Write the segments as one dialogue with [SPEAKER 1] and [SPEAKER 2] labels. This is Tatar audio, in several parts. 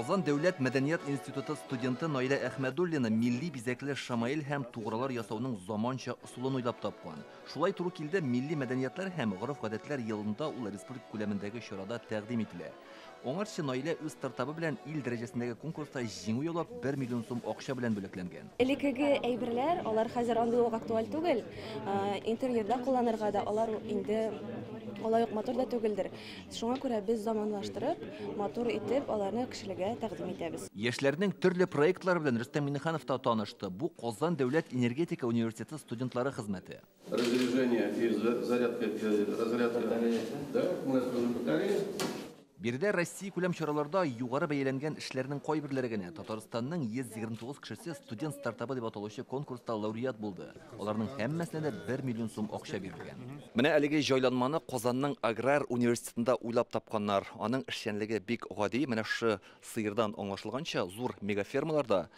[SPEAKER 1] Казан дәүләт мәдәният институты студенты Наилә Әхмәдуллина милли бизәкле шамаил һәм тугралар ясауның заманча ысулын уйлап тапкан. Шулай туры килде милли мәдәниятләр һәм гореф-гадәтләр елында ул республика күләмендәге чарада тәкъдим ителә. Аңарчы Наилә үз стартабы белән ил дәрәҗәсендәге конкурста җиңү яулап, 1 миллион сум акча белән бүләкләнгән. Элеккеге әйберләр,
[SPEAKER 2] алар хәзер андый ук актуаль түгел. Интерьерда кулланырга да алар инде алай ук матур да түгелдер. Шуңа күрә без заманлаштырып, матур итеп аларны кешеләргә тәкъдим итәбез. Яшьләрнең төрле
[SPEAKER 1] проектлары белән Рөстәм Миңнеханов та танышты. Бу Казан дәүләт энергетика университеты студентлары хезмәте.
[SPEAKER 3] Биредә
[SPEAKER 1] россиякүләм чараларда югары бәяләнгән эшләрнең кайберләре генә Татарстанның 129 кешесе студент стартабы дип аталучы конкурста лауреат булды. Аларның һәммәсенә дә бер миллион сум акча бирелгән. Менә әлеге җайланманы Казанның аграр университетында уйлап тапканнар. Аның эшчәнлеге бик гади, менә шушы сыердан аңлашылганча, зур мегафермаларда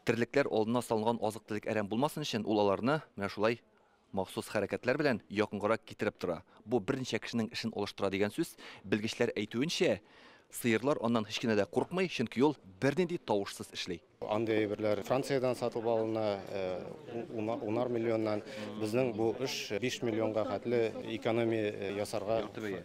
[SPEAKER 1] Терлекләр алдына салынган азык-төлек әрәм булмасын өчен, ул аларны менә шулай махсус хәрәкәтләр белән якынгарак китереп тора. Бу берничә кешенең эшен алыштыра дигән сүз. Белгечләр әйтүенчә, сыерлар аннан һич кенә дә курыкмый, чөнки ул бернинди тавышсыз эшли. Андый әйберләр
[SPEAKER 4] Франциядән сатып алына, унар миллионнан. Безнең бу эш биш миллионга хәтле экономия ясарга. Якты бәя.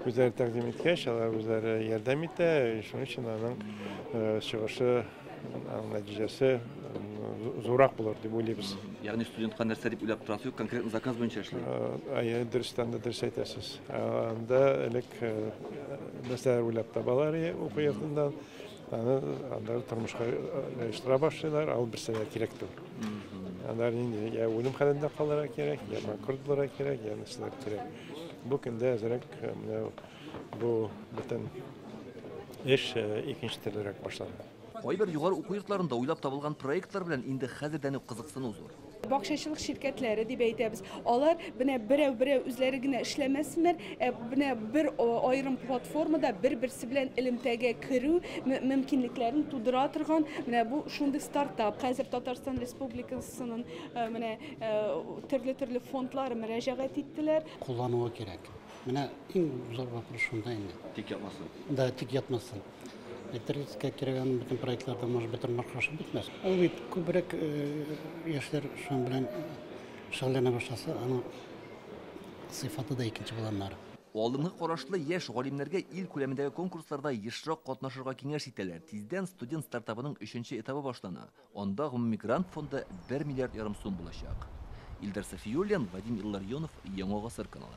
[SPEAKER 1] Үзләре тәкъдим
[SPEAKER 5] иткәч, алар үзләре ярдәм итә, шуның өчен аның чыгышы, нәтиҗәсе зуррак булыр дип уйлыйбыз. Ягъни студентка нәрсә
[SPEAKER 1] дип уйлап торасы юк, конкретно заказ буенча эшли. Әйе, дөрестән
[SPEAKER 5] дә дөрес әйтәсез. Анда элек нәрсәләр уйлап табалар уку йортыннан, аны анда тормышка оештыра башлыйлар, ал берсә дә кирәк түгел. Алар инде я үлем хәлендә калырга кирәк, я банкрот булырга кирәк, я нәрсәләр кирәк. Бу көндә әзерәк менә бу бөтен эш икенче төрлерәк башланды. Кайбер югары уку
[SPEAKER 1] йортларында уйлап табылган проектлар белән инде хәзердән үк кызыксыну зур. Бакчачылык ширкәтләре
[SPEAKER 6] дип әйтәбез. Алар менә берәү-берәү үзләре генә эшләмәсеннәр, ә менә бер аерым платформада бер-берсе белән элемтәгә керү мөмкинлекләрен тудыра торган менә бу шундый стартап. Хәзер Татарстан Республикасының менә Төрле-төрле фондлар мөрәҗәгать иттеләр. Куллануы кирәк.
[SPEAKER 7] Менә иң зур вопрос шунда инде. Тик ятмасын. Да,
[SPEAKER 1] тик ятмасын.
[SPEAKER 7] Әйтергә кирәк, аның бөтен проектларда, может быть, тормыш кошып бетмәс. Ул бит күбрәк яшьләр шуның белән шөгыльләнә башласа, аның сыйфаты да икенче була, аннары. Алдынгы карашлы
[SPEAKER 1] яшь галимнәргә ил күләмендәге конкурсларда ешрак катнашырга киңәш итәләр. Тиздән студент стартабының өченче этабы башлана. Анда гомуми грант фонды бер миллиард ярым сум булачак. Илдар Сафиуллин, Вадим Илларионов, Яңа гасыр каналы.